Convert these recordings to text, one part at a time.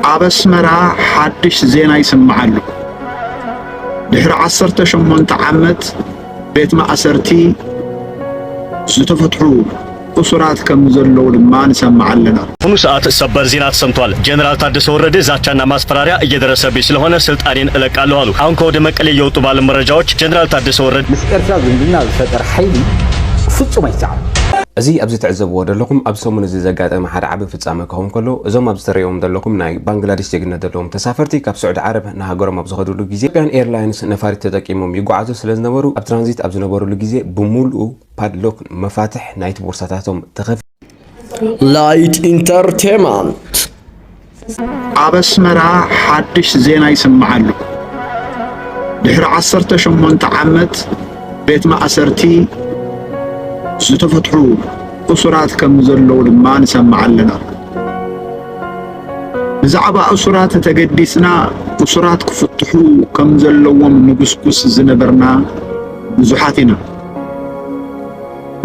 ኣብ ኣስመራ ሓድሽ ዜና ይስማዕ ኣሎ። ድሕሪ ዓሰርተ ሸሞንተ ዓመት ቤት ማእሰርቲ ዝተፈትሑ እሱራት ከም ዘለዉ ድማ ንሰማዕ ኣለና። ኩኑ ሰዓት ሰበር ዜና ተሰምቷል። ጀነራል ታደሰ ወረደ ዛቻና ማስፈራሪያ እየደረሰብኝ ስለሆነ ስልጣኔን እለቃለሁ አሉ። አሁን ከወደ መቀሌ እየወጡ ባሉ መረጃዎች ጀነራል ታደሰ ወረደ ምስ ኤርትራ ዝምድና ዝፈጠር ሓይሊ ፍጹም ኣይሰዓብን። እዚ ኣብዚ ትዕዘብዎ ደለኹም ኣብዚ ሰሙን እዚ ዘጋጠመ ሓደ ዓቢ ፍጻመ ክኸውን ከሎ፣ እዞም ኣብዚ ተርእይዎም ዘለኹም ናይ ባንግላዲሽ ዜግነት ዘለዎም ተሳፈርቲ ካብ ስዑዲ ዓረብ ንሃገሮም ኣብ ዝኸድሉ ግዜ፣ ኢትዮጵያን ኤርላይንስ ነፋሪት ተጠቂሞም ይጓዓዙ ስለ ዝነበሩ፣ ኣብ ትራንዚት ኣብ ዝነበርሉ ግዜ ብምሉኡ ፓድሎክ፣ መፋትሕ፣ ናይቲ ቦርሳታቶም ተኸፊቱ። ላይት ኢንተርቴመንት። ኣብ ኣስመራ ሓድሽ ዜና ይስማዕ ኣሎ። ድሕሪ ዓሰርተ ሸሞንተ ዓመት ቤት ማእሰርቲ ዝተፈትሑ እሱራት ከም ዘለዉ ድማ ንሰምዕ ኣለና። ብዛዕባ እሱራት እንተገዲስና እሱራት ክፍትሑ ከም ዘለዎም ንጉስጉስ ዝነበርና ብዙሓት ኢና።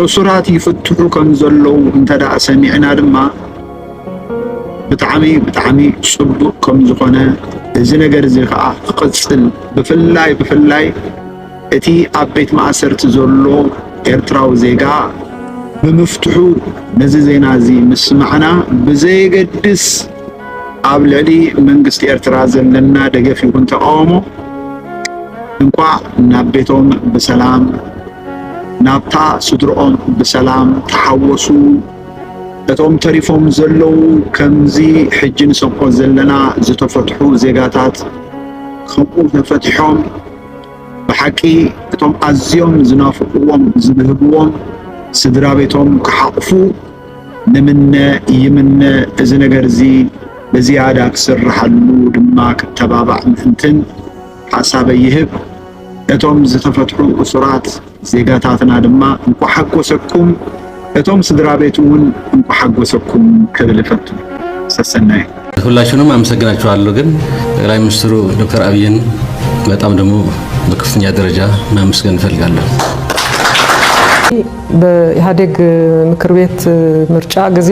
እሱራት ይፍትሑ ከም ዘለዉ እንተ ደኣ ሰሚዕና ድማ ብጣዕሚ ብጣዕሚ ጽቡቅ ከም ዝኾነ እዚ ነገር እዚ ከዓ ክቅጽል ብፍላይ ብፍላይ እቲ ኣብ ቤት ማእሰርቲ ዘሎ ኤርትራዊ ዜጋ ብምፍትሑ ነዚ ዜና እዚ ምስማዕና ብዘየገድስ ኣብ ልዕሊ መንግስቲ ኤርትራ ዘለና ደገፍ ይኹን ተቃውሞ እንቋዕ ናብ ቤቶም ብሰላም ናብታ ስድርኦም ብሰላም ተሓወሱ እቶም ተሪፎም ዘለዉ ከምዚ ሕጂ ንሰምዖ ዘለና ዝተፈትሑ ዜጋታት ከምኡ ተፈቲሖም ብሓቂ እቶም ኣዝዮም ዝናፍቕዎም ዝብህግዎም ስድራ ቤቶም ክሓቑፉ ንምነ ይምነ እዚ ነገር እዚ ብዝያዳ ክስርሓሉ ድማ ክተባባዕ ምእንትን ሓሳበይ ይህብ እቶም ዝተፈትሑ እሱራት ዜጋታትና ድማ እንኳዕ ሓጎሰኩም እቶም ስድራቤት እውን እንኳዕ ሓጎሰኩም ክብል እፈቱ። ሰሰናዩ። ሁላችሁንም አመሰግናችኋለሁ። ግን ጠቅላይ ሚኒስትሩ ዶክተር አብይን በጣም ደግሞ በከፍተኛ ደረጃ ማመስገን እፈልጋለሁ። በኢህአዴግ ምክር ቤት ምርጫ ጊዜ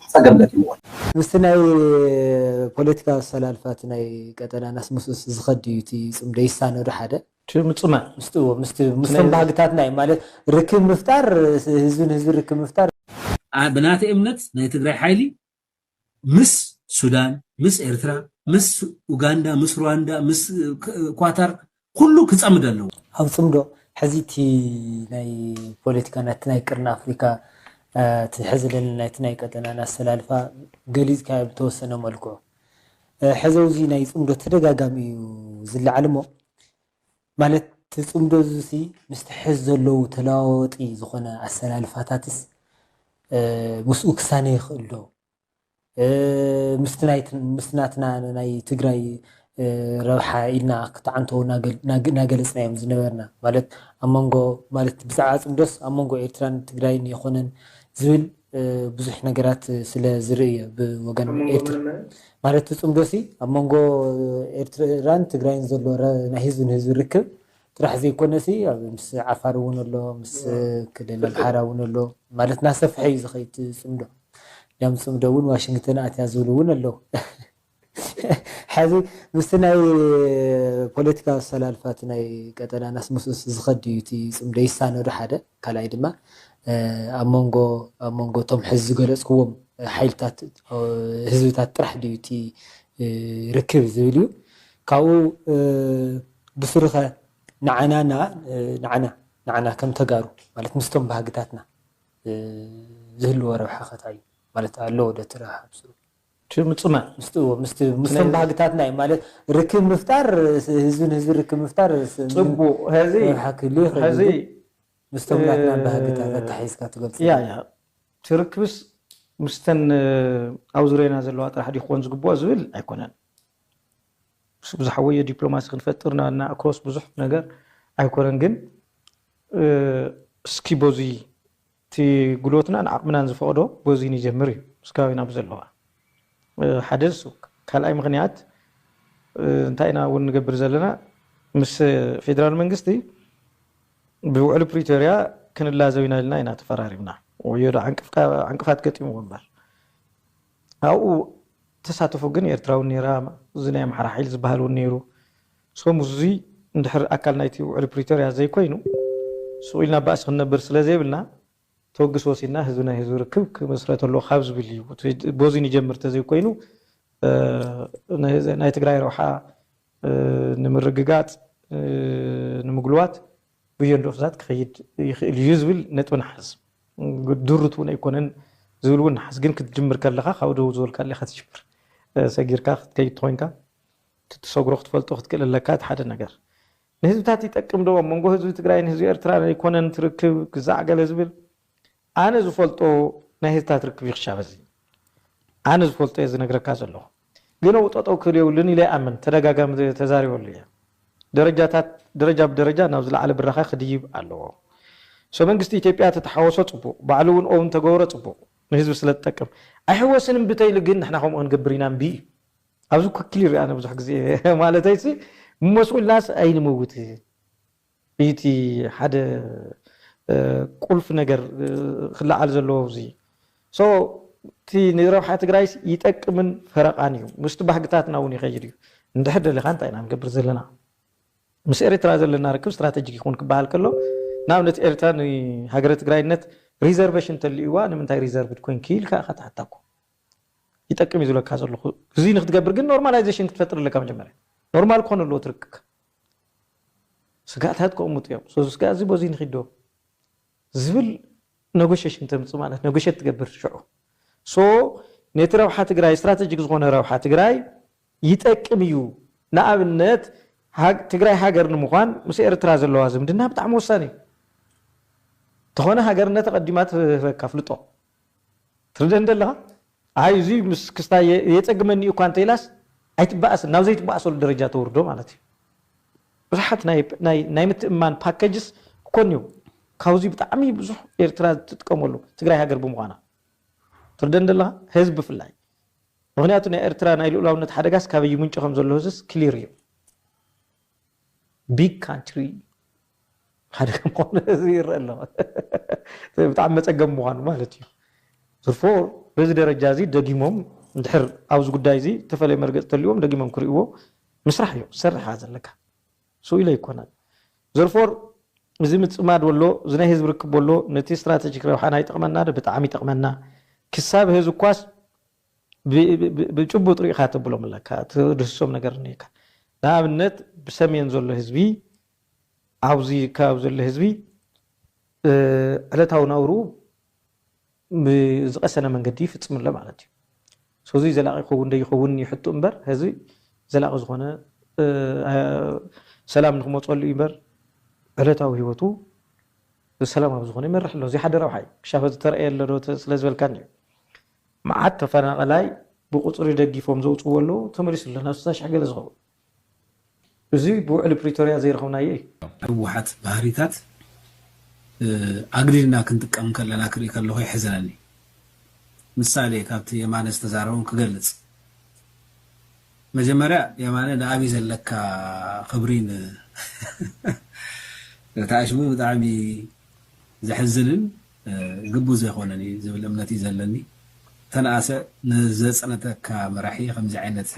ፀገም ገጢምዎ ኣሎ። ምስቲ ናይ ፖለቲካ ኣሰላልፋቲ ናይ ቀጠናናስ ምስኡስ ዝኸድ ድዩ እቲ ፅምዶ ይሳነ ዶ ሓደ? እቲ ምፅማድ ምስቲ እዎ ምስቲ ምስቶም ባህግታት ናይ ማለት ርክብ ምፍጣር ህዝቢ ንህዝቢ ርክብ ምፍጣር። ብናተይ እምነት ናይ ትግራይ ሓይሊ ምስ ሱዳን ምስ ኤርትራ ምስ ኡጋንዳ ምስ ሩዋንዳ ምስ ኳታር ኩሉ ክጸምድ ኣለዎ። ኣብ ጽምዶ ሕዚ እቲ ናይ ፖለቲካ ናይቲ ናይ ቅርኒ ኣፍሪካ እቲ ሕዚ ለለና ናይቲ ናይ ቀጠናን ኣሰላልፋ ገሊጽካዮ ብተወሰነ መልክዑ ሕዚ ኣውዚ ናይ ጽምዶ ተደጋጋሚ እዩ ዝለዓል እሞ ማለት እቲ ጽምዶ እዙሲ ምስቲ ሕዚ ዘለዉ ተለዋዋጢ ዝኾነ ኣሰላልፋታትስ ምስኡ ክሳነ ይኽእል ዶ? ምስቲ ናትና ናይ ትግራይ ረብሓ ኢልና ክተዓንተዉ ናገለፅናዮም ዝነበርና ማለት ኣብ መንጎ ማለት ብዛዕባ ፅምዶስ ኣብ መንጎ ኤርትራን ትግራይን የኾነን ዝብል ብዙሕ ነገራት ስለ ዝርኢ እዮ ብወገን ኤርትራ ማለት እቲ ፅምዶሲ ኣብ መንጎ ኤርትራን ትግራይን ዘሎ ናይ ህዝቢ ንህዝቢ ርክብ ጥራሕ ዘይኮነሲ ምስ ዓፋር እውን ኣሎ ምስ ክልል ኣምሓራ እውን ኣሎ ማለት ናሰፍሐ እዩ ዝኸይድ እቲ ፅምዶ ዳምፅምዶ እውን ዋሽንግተን ኣትያ ዝብሉ እውን ኣለው። ሐዚ ምስቲ ናይ ፖለቲካዊ ኣሰላልፋ እቲ ናይ ቀጠናናስ ምስኡስ ዝኸድ ድዩ እቲ ፅምዶ? ይሳነ ዶ ሓደ? ካልኣይ ድማ ኣብ መንጎ ኣብ መንጎ እቶም ሐዚ ዝገለፅክዎም ሓይልታት ህዝብታት ጥራሕ ድዩ እቲ ርክብ ዝብል እዩ። ካብኡ ብስሩኸ ንዓናና ንዓና ንዓና ከም ተጋሩ ማለት ምስቶም ባህግታትና ዝህልዎ ረብሓ ከ ታይ እዩ? ማለት ኣለዎ ዶ እቲ ረብሓ ምስኡ? እቲ ምጽማድ ምስቲ ምስቲ ምስቶም ባህግታትና እዩ ማለት ርክብ ምፍጣር ህዝቢ ንህዝቢ ርክብ ምፍጣር ጽቡቅ ሀዚ ረብሓ ክህልዎ ይኽእል እዩ ሀዚ ግን ምስቶም ናትና ባህግታት ኣተሓሒዝካ ትገልጾ ያ ያ እቲ ርክብስ ምስተን ኣብ ዙርያና ዘለዋ ጥራሕ ድዩ ክኾን ዝግብኦ ዝብል ኣይኮነን። ዝሓወዮ ዲፕሎማሲ ክንፈጥር እና እና ኣክሮስ ብዙሕ ነገር ኣይኮነን ግን እስኪ በዙይ እቲ ጉልበትናን ዓቕምናን ዝፈቕዶ በዙይ ንጀምር እዩ ምስጋዊና ብዘለዋ ሓደ ንሱ ካልኣይ ምክንያት እንታይ ኢና እውን ንገብር ዘለና ምስ ፌዴራል መንግስቲ ብውዕሊ ፕሪቶሪያ ክንላዘው ኢና ኢልና ኢና ተፈራሪምና ወዮ ዶ ዕንቅፋት ገጢምዎ እምበር ኣብኡ ተሳተፎ ግን ኤርትራ ውን ኔራ እዚ ናይ ኣምሓራ ሓይሊ ዝባሃል ውን ኔሩ so ምስዚ እንድሕር ኣካል ናይቲ ውዕሊ ፕሪቶርያ ዘይኮይኑ ሱቅ ኢልና ባእሲ ክንነብር ስለ ዘይብልና ተወግሲ ወሲድና ህዝቢ ናይ ህዝቢ ርክብ ክምስረት ኣለዎ ካብ ዝብል እዩ እቲ ቦዚ ንጀምር ተዘይኮይኑ ናይ ትግራይ ረብሓ ንምርግጋጽ ንምግልዋት ብዮን ርሑሳት ክኸይድ ይኽእል እዩ ዝብል ነጥቢ ንሓዝ። ድሩት እውን ኣይኮነን ዝብል እውን ንሓዝ። ግን ክትጅምር ከለኻ ካብኡ ደው ዝበልካሉ ኢኻ ትጅምር። ሰጊርካ ክትከይድ ተኾይንካ እቲ ትሰግሮ ክትፈልጦ ክትክእል ኣለካ እቲ ሓደ ነገር። ንህዝብታት ይጠቅም ዶ? ኣብ መንጎ ህዝቢ ትግራይን ህዝቢ ኤርትራን ኣይኮነን እቲ ርክብ ክዛዕ ገለ ዝብል ኣነ ዝፈልጦ ናይ ህዝታት ርክብ እዩ ክሻብ ሀዚ ኣነ ዝፈልጦ እየ ዝነግረካ ዘለኹ ግን ኣብኡ ጠጠው ክብል የብሉን ኢለ ይኣምን ተደጋጋሚ ተዛሪበሉ እየ ደረጃታት ደረጃ ብደረጃ ናብ ዝለዓለ ብራኸ ክድይብ ኣለዎ ሶ መንግስቲ ኢትዮጵያ ተተሓወሶ ፅቡቕ ባዕሉ እውን ኦውን ተገበሮ ፅቡቕ ንህዝቢ ስለ ዝጠቅም ኣይሕወስን እምብተይሉ ግን ንሕና ከምኡ ክንገብር ኢና እምቢ እዩ ኣብዚ ኩኪል ይርኣነ ብዙሕ ግዜ ማለተይሲ መስኡልናስ ኣይንመውትን እቲ ሓደ ቁልፊ ነገር ክለዓል ዘለዎ ኣብዚ ሶ እቲ ንረብሓ ትግራይስ ይጠቅምን ፈረቓን እዩ ምስቲ ባህግታትና እውን ይኸይድ እዩ እንድሕር ደሊኻ እንታይ ኢና ንገብር ዘለና ምስ ኤሪትራ ዘለና ርክብ ስትራተጂክ ይኹን ክበሃል ከሎ ንኣብነት ኤሪትራ ንሃገረ ትግራይነት ሪዘርቨሽን ተልዩዋ ንምንታይ ሪዘርቭድ ኮንኪ ኢልካ ኢኻ ትሓታ እኮ ይጠቅም እዩ ዝብለካ ዘለኹ እዚ ንክትገብር ግን ኖርማላይዜሽን ክትፈጥር ኣለካ መጀመርያ ኖርማል ክኾን ኣለዎ ትርክካ ስግኣታት ከቕምጡ እዮም። ስለዚ ስግኣት እዚ በዙይ ንኺድ ዶ ዝብል ነጎሸሽን ተምፅእ ማለት ነጎሸት ትገብር ሽዑ ሶ ነቲ ረብሓ ትግራይ ስትራተጂክ ዝኾነ ረብሓ ትግራይ ይጠቅም እዩ። ንኣብነት ትግራይ ሃገር ንምዃን ምስ ኤርትራ ዘለዋ ዝምድና ብጣዕሚ ወሳኒ እዩ። ተኾነ ሃገርነት ኣቐዲማ ትህበካ ፍልጦ ትርደኒ ዶ ኣለኻ? ኣይ እዙይ ምስ ክስታይ የፀግመኒ እዩ እኳ እንተኢላስ ኣይትበኣስን፣ ናብ ዘይትበኣሰሉ ደረጃ ተውርዶ ማለት እዩ። ብዙሓት ናይ ምትእምማን ፓኬጅስ እኮ እኒዉ። ካብዙይ ብጣዕሚ ብዙሕ ኤርትራ ትጥቀመሉ ትግራይ ሃገር ብምዃና። ትርደኒ ዶ ኣለኻ? ህዝቢ ብፍላይ። ምኽንያቱ ናይ ኤርትራ ናይ ልኡላውነት ሓደጋስ ካበይ ይምንጩ ከምዘሎ ህዝቢስ ክሊር እዩ። ቢግ ካንትሪ ሓደ ከም ምዃኑ ህዝቢ ይረአ ኣሎ ብጣዕሚ መፀገሚ ምዃኑ ማለት እዩ። ዝርፎር በዚ ደረጃ እዚ ደጊሞም እንድሕር ኣብዚ ጉዳይ እዚ እተፈለየ መርገፂ ተልዎም ደጊሞም ክርእይዎ ምስራሕ እዩ ክትሰርሕ እያ ዘለካ ስኡ ኢለ ኣይኮነን ዘርፎር እዚ ምፅማድ ወሎ እዚ ናይ ህዝቢ ርክብ ወሎ ነቲ ስትራተጂክ ረብሓና ይጠቕመና ዶ ብጣዕሚ ይጠቕመና ክሳብ ህዚ እኳስ ብጭቡጥ ሪኢኻ ተብሎም ኣለካ ትድህስሶም ነገር እኒኤካ ንኣብነት ብሰሜን ዘሎ ህዝቢ ኣብዚ ከባቢ ዘሎ ህዝቢ ዕለታዊ ናብርኡ ብዝቐሰነ መንገዲ ይፍፅም ኣሎ ማለት እዩ ሰዚ ዘላቂ ይኸውን ደይኸውን ይሕቱ እምበር ህዚ ዘላቂ ዝኾነ ሰላም ንክመፀሉ እዩ እምበር ዕለታዊ ሂወቱ ሰላማዊ ዝኾነ ይመርሕ ኣሎ እዚ ሓደ ረብሓ እዩ ክሻፈ ዝተረእየ ኣሎ ዶ ስለዝበልካኒ እዩ መዓት ተፈናቐላይ ብቑፅሪ ደጊፎም ዘውፅዎ ኣለው ተመሊሱ ኣሎ ናብ ስሳ ሽሕ ገለ ዝኸውን እዙይ ብውዕሊ ፕሪቶርያ ዘይረኸብናዮ እዩ። ህወሓት ባህሪታት ኣግዲድና ክንጥቀም ከለና ክርኢ ከለኹ የሕዝነኒ። ምሳሌ ካብቲ የማነ ዝተዛረቦም ክገልፅ። መጀመርያ የማነ ንኣብይ ዘለካ ክብሪ ን እቲ ኣሽሙር ብጣዕሚ ዘሕዝንን ግቡእ ዘይኮነን እዩ ዝብል እምነት እዩ ዘለኒ ተነኣሰ ንዘፅነተካ መራሒ ከምዚ ዓይነት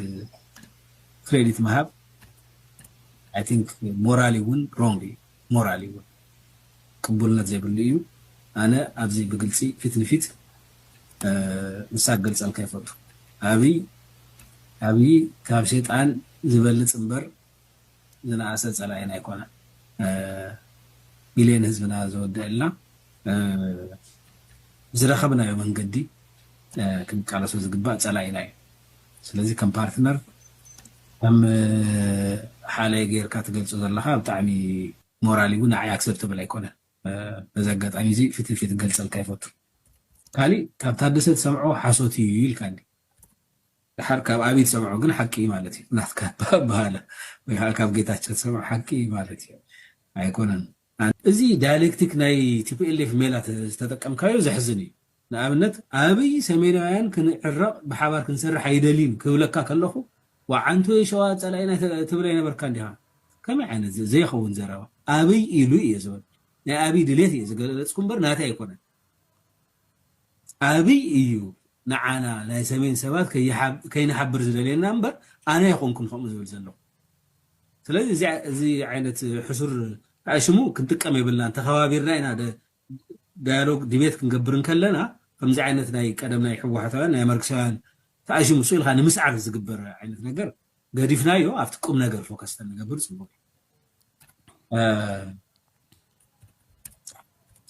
ክሬዲት ምሃብ ኣይ ቲንክ ሞራሊ እውን ሮንግ እዩ ሞራሊ እውን ቅቡልነት ዘይብሉ እዩ ኣነ ኣብዚ ብግልፂ ፊት ንፊት ንሳ ክገልፀልካ ይፈቱ ኣብይ ኣብይ ካብ ሸጣን ዝበልፅ እምበር ዝነኣሰ ጸላኢና ኣይኮነን ሚልዮን ህዝብና ዘወደኣልና ብዝረኸብናዮ መንገዲ ክንቃለሶ ዝግባእ ጸላኢና እዩ ስለዚ ከም ፓርትነር ከም ሓለየ ጌርካ ትገልጾ ዘለኻ ብጣዕሚ ሞራሊ እውን ንዓይ ኣክሰፕተብል ኣይኮነን በዚ ኣጋጣሚ እዚ ፊት ንፊት ክገልጸልካ ይፈቱ ካሊእ ካብ ታደሰ ትሰምዖ ሓሶት እዩ ኢልካኒ ደሓር ካብ ኣብይ ዝሰምዖ ግን ሓቂ እዩ ማለት እዩ ናትካ ኣበሃህላ ወይ ከዓ ካብ ጌታቸው ዝሰምዖ ሓቂ እዩ ማለት እዩ ኣይኮነን እዚ ዳያሌክቲክ ናይ ቲፒኤልኤፍ ሜላ ዝተጠቀምካዮ ዘሕዝን እዩ ንኣብነት ኣብይ ሰሜናውያን ክንዕረቕ ብሓባር ክንሰርሕ ኣይደልይን ክብለካ ከለኹ ወዓንቱ ወይ ሸዋ ጸላኢና ትብል ኣይነበርካ እንዲኻ ከመይ ዓይነት ዘይኸውን ዘረባ ኣብይ ኢሉ እየ ዝበል ናይ ኣብይ ድሌት እየ ዝገለጽኩ እምበር ናተይ ኣይኮነን ኣብይ እዩ ንዓና ናይ ሰሜን ሰባት ከይንሓብር ዝደልየና እምበር ኣነ ኣይኮንኩን ከምኡ ዝብል ዘለኹ ስለዚ እዚ ዓይነት ሕሱር ሽሙ ክንጥቀም የብልናን ተኸባቢርና ኢና ዳያሎግ ዲቤት ክንገብር እንከለና ከምዚ ዓይነት ናይ ቀደም ናይ ሕወሓታውያን ናይ ማርክሳውያን ተኣሽሙ ሱ ኢልካ ንምስዓር ዝግበር ዓይነት ነገር ገዲፍናዮ ኣብቲ ቁም ነገር ፎከስ ተንገብር ጽቡቅ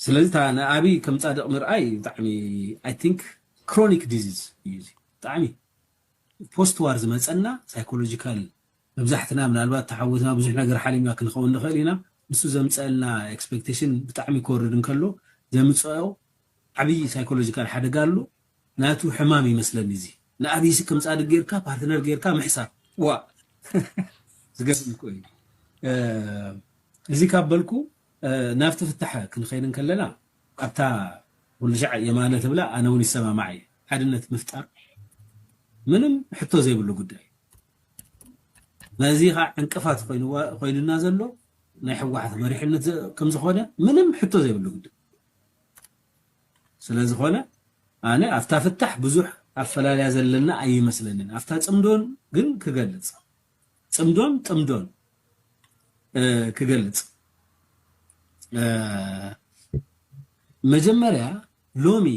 ስለዚ እታ ንኣብይ ከም ጻድቅ ምርኣይ ብጣዕሚ ኣይ ቲንክ ክሮኒክ ዲዚዝ እዩ እዚ ብጣዕሚ ፖስት ዋር ዝመፀና ሳይኮሎጂካል መብዛሕትና ምናልባት ተሓወትና ብዙሕ ነገር ሓሊምና ክንኸውን ንኽእል ኢና ንሱ ዘምፀአልና ኤክስፔክቴሽን ብጣዕሚ ክወርድ እንከሎ ዘምፀኦ ዓብዪ ሳይኮሎጂካል ሓደጋ ኣሎ ናቱ ሕማም እዩ መስለኒ እዚ ንኣብይሲ ከም ጻድቅ ገርካ ፓርትነር ገርካ ምሕሳብ ዋእ ዝገርም እኮ እዩ እዚ ካብ በልኩ ናብቲ ፍታሐ ክንኸይድ እንከለና ኣብታ ኩሉሻዕ የማነ ትብላ ኣነ ውን ይሰማማዕ እየ ሓድነት ምፍጣር ምንም ሕቶ ዘይብሉ ጉዳይ እዩ ነዚ ከ ዕንቅፋት ኮይኑና ዘሎ ናይ ሕወሓት መሪሕነት ከምዝኾነ ምንም ሕቶ ዘይብሉ ጉዳይ ስለዝኾነ ኣነ ኣብታ ፍታሕ ብዙሕ ኣፈላልያ ዘለና ኣይመስለንን ኣብታ ጽምዶን ግን ክገልጽ ጽምዶን ጥምዶን ክገልጽ መጀመርያ ሎሚ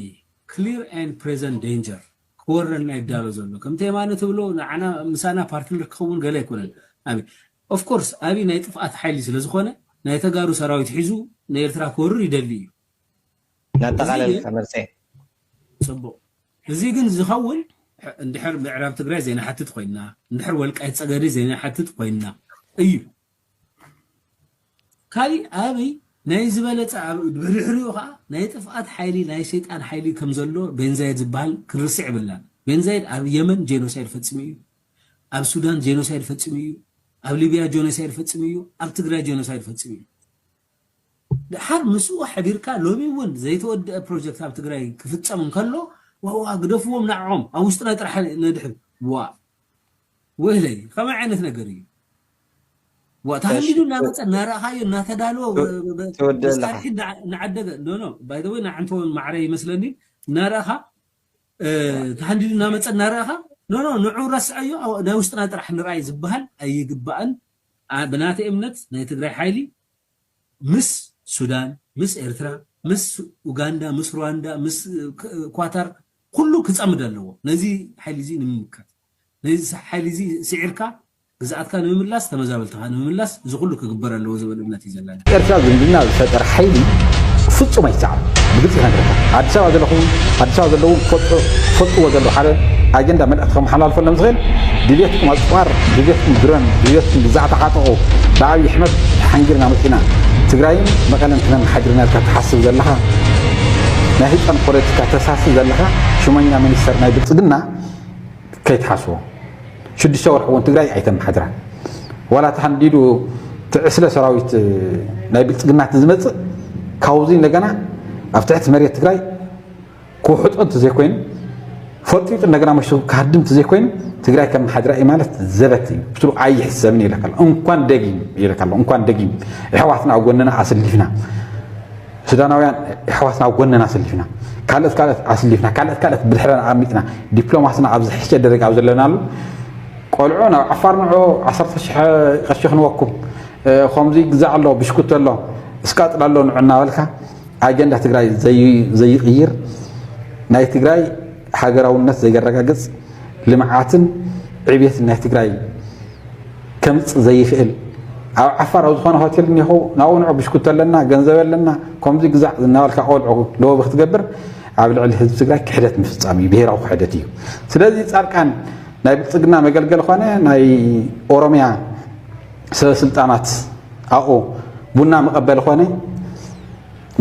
ክሊር ን ፕሬዘንት ዴንጀር ክወረና ይዳሎ ዘሎ ከምቲ የማነ ትብሎ ንዓና ምሳና ፓርትነር ክኸውን ገለ ኣይኮነን ኣብ ኦፍኮርስ ኣብይ ናይ ጥፍኣት ሓይሊ ስለዝኾነ ናይ ተጋሩ ሰራዊት ሒዙ ንኤርትራ ክወርር ይደሊ እዩ ናጠቓለልካ መርፀየ። ፅቡቕ እዙይ ግን ዝኸውን እንድሕር ምዕራብ ትግራይ ዘይንሓትት ኾይንና እንድሕር ወልቃይት ፀገዴ ዘይንሓትት ኾይንና እዩ። ካሊእ ኣብይ ናይ ዝበለፀ ኣብ ድሕሪኡ ከዓ ናይ ጥፍኣት ሓይሊ ናይ ሰይጣን ሓይሊ ከም ዘሎ ቤንዛይድ ዝበሃል ክንርስዕ የብልናን። ቤንዛይድ ኣብ የመን ጄኖሳይድ ፈፂሙ እዩ፣ ኣብ ሱዳን ጄኖሳይድ ፈፂሙ እዩ፣ ኣብ ሊብያ ጄኖሳይድ ፈፂሙ እዩ፣ ኣብ ትግራይ ጄኖሳይድ ፈፂሙ እዩ። ደሓር ምስኡ ሐቢርካ ሎሚ እውን ዘይተወደኣ ፕሮጀክት ኣብ ትግራይ ክፍፀም እንከሎ ዋዋ ግደፍዎም ንዐዖም ኣብ ውሽጥና ጥራሕ ነድሕን ዋእ ወይለይ ከመይ ዓይነት ነገር እዩ ዋእ ተሃንዲዱ እናመፀ እናረእኻዮ እናተዳለወ መሳርሒ እናዓደገ ኖ ኖ ባይ ዘ ወይ ንዓንተውን ማዕረ ይመስለኒ እናረእኻ ተሃንዲዱ እናመፀ እናረእኻ ኖ ኖ ንዑ ረስዐዮ ናይ ውሽጥና ጥራሕ ንርኣይ ዝበሃል ኣይግባእን ብናተይ እምነት ናይ ትግራይ ሓይሊ ምስ ሱዳን ምስ ኤርትራ ምስ ኡጋንዳ ምስ ሩዋንዳ ምስ ኳታር ኩሉ ክጸምድ ኣለዎ ነዚ ሓይሊ እዚ ንምምካት ነዚ ሓይሊ እዚ ስዒርካ ግዝኣትካ ንምምላስ ተመዛበልትኻ ንምምላስ እዚ ኩሉ ክግበር ኣለዎ ዝብል እምነት እዩ ዘለኒ። ኤርትራ ዝምድና ዝፈጠረ ሓይሊ ፍጹም ኣይሰዓርን ብግልጺ ክነግረካ ኣዲስ ኣበባ ዘለኹ ኣዲስ ኣበባ ዘለዉ ክፈልጡ ክፈልጥዎ ዘለዉ ሓደ ኣጀንዳ መልእኽቲ ከመሓላልፈሎም ዝኽእል ድልየትኩም ኣጽዋር ድልየትኩም ድሮን ድልየትኩም ግዛዕ ተዓጠቑ ብኣብይ ኣሕመድ ተሓንጊርና መጺእና ትግራይን መቐለን ክነመሓድር ኢና ኢልካ ትሓስብ ዘለኻ ናይ ህጻን ፖለቲካ ተሳሲ ዘለኻ ሹመኛ ሚኒስተር ናይ ብልጽግና ከይትሓስቦ ሽዱሽተ ወርሒ እውን ትግራይ ኣይተመሓድራን ዋላ እቲ ሃንዲዱ እቲ ዕስለ ሰራዊት ናይ ብልፅግና እቲ ዝመፅእ ካብዚ እንደገና ኣብ ትሕቲ መሬት ትግራይ ክውሕጦ እንተዘይኮይኑ ፈጢጡ እንደገና መሽቱ ክሃድም እንተዘይኮይኑ ትግራይ ከም መሓድራ እዩ ማለት ዘበት እዩ ብትሩ ኣይሕሰብን ይለካ ኣሎ እንኳን ደጊም ይለካ ኣሎ እንኳን ደጊም ኣሕዋትና ኣብ ጎንና ኣሰሊፍና ሱዳናውያን የሕዋትና ኣብ ጎነና ኣሰሊፍና ካልኦት ካልኦት ኣስሊፍና ካልኦት ካልኦት ብድሕረና ኣርሚጥና ዲፕሎማስና ኣብ ዝሕሸ ደረጃ ኣብ ዘለናሉ ቆልዑ ናብ ዓፋር ንዑ ዓሰርተ ሽሕ ቅርሺ ክንወኩም ከምዚ ግዛዕ ኣሎ ብሽኩቲ ኣሎ እስቃጥል ኣሎ ንዑ እናበልካ ኣጀንዳ ትግራይ ዘይቕይር ናይ ትግራይ ሃገራውነት ዘየረጋግፅ ልምዓትን ዕብየትን ናይ ትግራይ ከምጽ ዘይክእል ኣብ ዓፋር ኣብ ዝኾነ ሆቴል እኒኹ ናብኡ ንዑ ብሽኩቲ ኣለና ገንዘብ ኣለና ከምዚ ግዛዕ ዝናበልካ ቆልዑ ሎቢ ክትገብር ኣብ ልዕሊ ህዝቢ ትግራይ ክሕደት ምፍፃም እዩ ብሄራዊ ክሕደት እዩ ስለዚ ፃድቃን ናይ ብልፅግና መገልገል ኾነ ናይ ኦሮሚያ ሰበስልጣናት ኣብኡ ቡና መቐበል ኾነ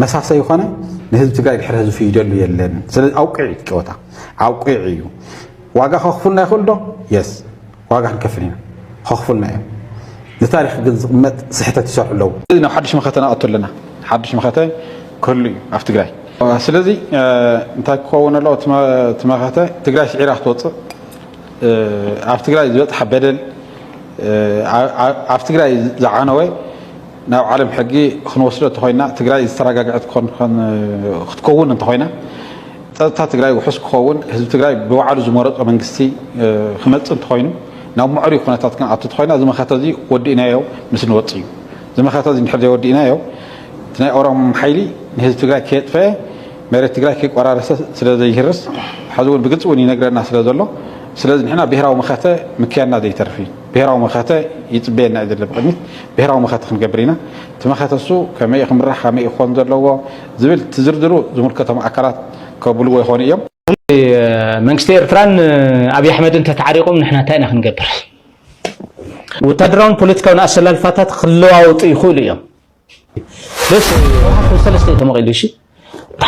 መሳሰይ ኾነ ንህዝቢ ትግራይ ድሕሪ ህዝቢ ይደሉ የለን ስለዚ ኣውቂዕ እዩ ጨወታ ኣውቂዕ እዩ ዋጋ ከኽፍልና ይኽእል ዶ የስ ዋጋ ክንከፍል ኢና ኸኽፉልና እዮም ንታሪኽ ግን ዝቕመጥ ስሕተት ይሰርሑ ኣለዉ። ስለዚ ናብ ሓዱሽ መኸተ ነኣቱ ኣለና ሓዱሽ መኸተ ክህሉ እዩ ኣብ ትግራይ ስለዚ እንታይ ክኸውን ኣለዎ እቲ መኸተ ትግራይ ስዒራ ክትወፅእ ኣብ ትግራይ ዝበፅሐ በደል ኣብ ትግራይ ዝዓነወ ናብ ዓለም ሕጊ ክንወስዶ እንተኾይና ትግራይ ዝተረጋግዐት ክትከውን እንተኾይና ፀጥታ ትግራይ ውሑስ ክኸውን ህዝቢ ትግራይ ብባዕሉ ዝመረፆ መንግስቲ ክመፅእ እንተኾይኑ ናብ ምዕሩይ ኩነታት ክንኣቱ እንተኾይና እዚ መኸተ እዚ ወዲእናዮ ምስ ንወፅ እዩ እዚ መኸተ እዚ እንድሕር ዘይወዲእናዮ እቲ ናይ ኦሮሞ ሓይሊ ንህዝቢ ትግራይ ከየጥፈአ መሬት ትግራይ ከይቆራረሰ ስለ ዘይህርስ ሕዚ እውን ብግልፂ እውን ይነግረና ስለ ዘሎ ስለዚ ንሕና ብሄራዊ መኸተ ምክያድና ዘይተርፍ እዩ ብሄራዊ መኸተ ይፅበየና እዩ ዘሎ ብቕድሚት ብሄራዊ መኸተ ክንገብር ኢና እቲ መኸተ እሱ ከመይ እዩ ክምራሕ ከመይ እዩ ክኾን ዘለዎ ዝብል እቲ ዝርዝሩ ዝምልከቶም ኣካላት ከብልዎ ይኾኑ እዮም። መንግስቲ ኤርትራን ኣብይ ኣሕመድን እንተተዓሪቖም ንሕና እንታይ ኢና ክንገብር? ወታደራውን ፖለቲካውን ኣሰላልፋታት ክለዋወጡ ይኽእሉ እዮም። ስለዚ ህወሓት ሰለስተ እዩ ተመቒሉ እሺ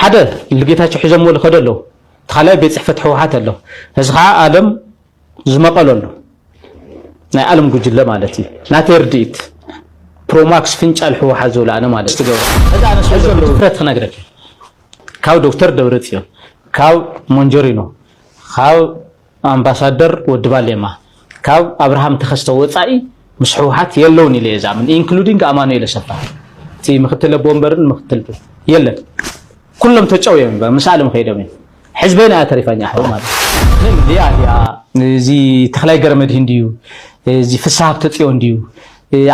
ሓደ ልጌታቸው ሒዞምዎ ዝኸዱ ኣለዉ እቲ ካልኣይ ቤት ፅሕፈት ህወሓት ኣሎ እዚ ከዓ ኣለም ዝመቐለሉ ናይ ኣለም ጉጅለ ማለት እዩ ናተይ ርድኢት ፕሮማክስ ፍንጫል ሕወሓት ዝብሎ ኣነ ማለት ትገብሮ ትፍረት ክነግረክ ካብ ዶክተር ደብረፅዮን ካብ ሞንጆሪኖ ካብ ኣምባሳደር ወዲ ባሌማ ካብ ኣብርሃም ተኸስተ ወፃኢ ምስ ሕውሓት የለውን ኢለ እየ ዝኣምን ኢንክሉዲንግ ኣማኑኤል ኣሰፋ እቲ ምክትል ኣቦ ወንበርን ምክትል የለን ኩሎም ተጨው እዮም ይበ ምስ ኣለም ከይዶም እዮም ሕዝበይ ናያ ተሪፋኛ ኣሕው ማለት ሊያ ሊያ እዚ ተክላይ ገረመድህን ድዩ እዚ ፍሳ ሃብተ ፅዮን ድዩ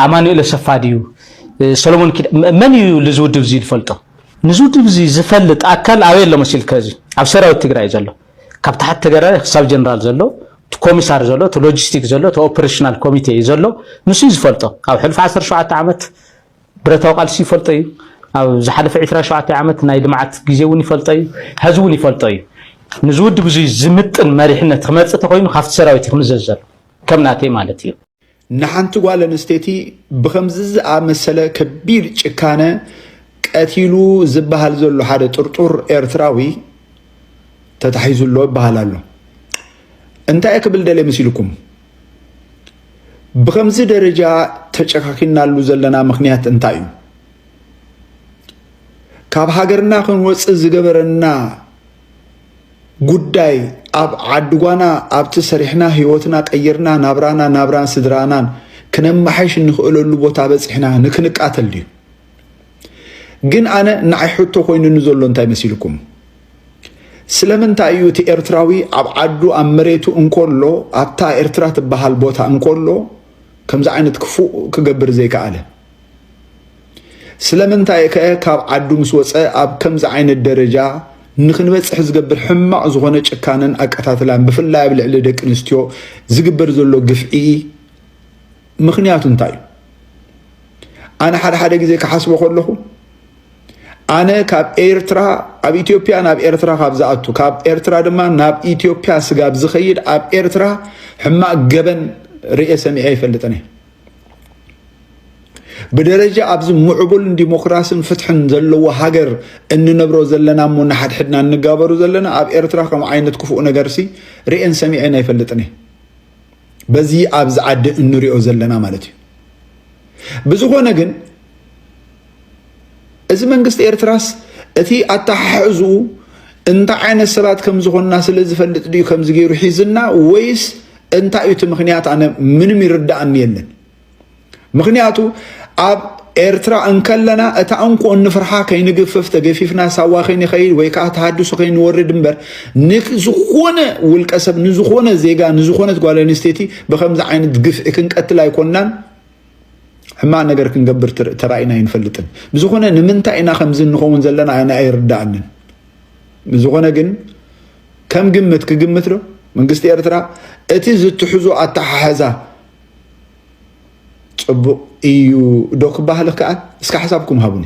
ኣማኑኤል ኣሰፋ ድዩ ሰሎሞን ኪዳ መን እዩ ልዚ ውድብ እዚ ዝፈልጦ ንዚ ውድብ እዚ ዝፈልጥ ኣካል ኣበይ ኣሎ መሲልከ እዚ ኣብ ሰራዊት ትግራይ ዘሎ ካብ ታሕቲ ተጋዳላይ ክሳብ ጀነራል ዘሎ እቲ ኮሚሳር ዘሎ እቲ ሎጂስቲክ ዘሎ እቲ ኦፕሬሽናል ኮሚቴ እዩ ዘሎ ንሱ እዩ ዝፈልጦ ኣብ ሕሉፍ 17 ዓመት ብረታዊ ቃልሲ ይፈልጦ እዩ ኣብ ዝሓለፈ 27 ዓመት ናይ ልምዓት ግዜ እውን ይፈልጦ እዩ ሕዚ እውን ይፈልጦ እዩ ንዚ ውድብ እዚ ዝምጥን መሪሕነት ክመፅእ ተኮይኑ ካብቲ ሰራዊት ክምዘዝ ዘሎ ከም ናተይ ማለት እዩ ንሓንቲ ጓል ኣንስተይቲ ብኸምዚ ዝኣመሰለ ከቢድ ጭካነ ቀቲሉ ዝበሃል ዘሎ ሓደ ጥርጡር ኤርትራዊ ተታሒዙ ኣሎ ይበሃል ኣሎ። እንታይ ክብል ደልየ መሲልኩም? ብኸምዚ ደረጃ ተጨካኪናሉ ዘለና ምክንያት እንታይ እዩ? ካብ ሃገርና ክንወፅእ ዝገበረና ጉዳይ ኣብ ዓድጓና ኣብቲ ሰሪሕና ህይወትና ቀይርና ናብራና ናብራን ስድራናን ክነማሐሽ እንኽእለሉ ቦታ በፂሕና ንክንቃተል ድዩ? ግን ኣነ ንዓይ ሕቶ ኮይኑኒ ዘሎ እንታይ መሲልኩም ስለምንታይ እዩ እቲ ኤርትራዊ ኣብ ዓዱ ኣብ መሬቱ እንከሎ ኣብታ ኤርትራ ትበሃል ቦታ እንከሎ ከምዚ ዓይነት ክፉእ ክገብር ዘይከኣለ ስለምንታይ ከ ካብ ዓዱ ምስ ወፀ ኣብ ከምዚ ዓይነት ደረጃ ንክንበፅሕ ዝገብር ሕማቕ ዝኾነ ጭካነን ኣቀታትላን ብፍላይ ኣብ ልዕሊ ደቂ ኣንስትዮ ዝግበር ዘሎ ግፍዒ ምክንያቱ እንታይ እዩ ኣነ ሓደ ሓደ ግዜ ክሓስቦ ከለኹ ኣነ ካብ ኤርትራ ኣብ ኢትዮጵያ ናብ ኤርትራ ካብ ዝኣቱ ካብ ኤርትራ ድማ ናብ ኢትዮጵያ ስጋብ ዝኸይድ ኣብ ኤርትራ ሕማቕ ገበን ርኤ ሰሚዐ ይፈልጥን እየ ብደረጃ ኣብዚ ምዕቡልን ዲሞክራስን ፍትሕን ዘለዎ ሃገር እንነብሮ ዘለና እሞ ንሓድሕድና እንጋበሩ ዘለና ኣብ ኤርትራ ከም ዓይነት ክፉእ ነገርሲ ርኤን ሰሚዐን ኣይፈልጥን እየ በዚ ኣብዚ ዓዲ እንሪኦ ዘለና ማለት እዩ ብዝኾነ ግን እዚ መንግስቲ ኤርትራስ እቲ ኣተሓሕዝኡ እንታይ ዓይነት ሰባት ከም ዝኾንና ስለ ዝፈልጥ ድዩ ከምዚ ገይሩ ሒዝና ወይስ እንታይ እዩ እቲ ምክንያት ኣነ ምንም ይርዳእኒ የለን ምክንያቱ ኣብ ኤርትራ እንከለና እታ እንኮ እንፍርሓ ከይንግፍፍ ተገፊፍና ሳዋ ከይንኸይድ ወይ ከዓ ተሃድሶ ከይንወርድ እምበር ንዝኾነ ውልቀ ሰብ ንዝኾነ ዜጋ ንዝኾነት ጓል ኣንስተይቲ ብከምዚ ዓይነት ግፍዒ ክንቀትል ኣይኮናን ሕማቅ ነገር ክንገብር ተራኢና ኣይንፈልጥን። ብዝኾነ ንምንታይ ኢና ከምዚ እንኸውን ዘለና ኣነ ኣይርዳእንን። ብዝኾነ ግን ከም ግምት ክግምት ዶ መንግስቲ ኤርትራ እቲ ዝትሕዞ ኣተሓሕዛ ጽቡቅ እዩ ዶ ክበሃል ከኣል እስካ ሓሳብኩም ሃቡኒ።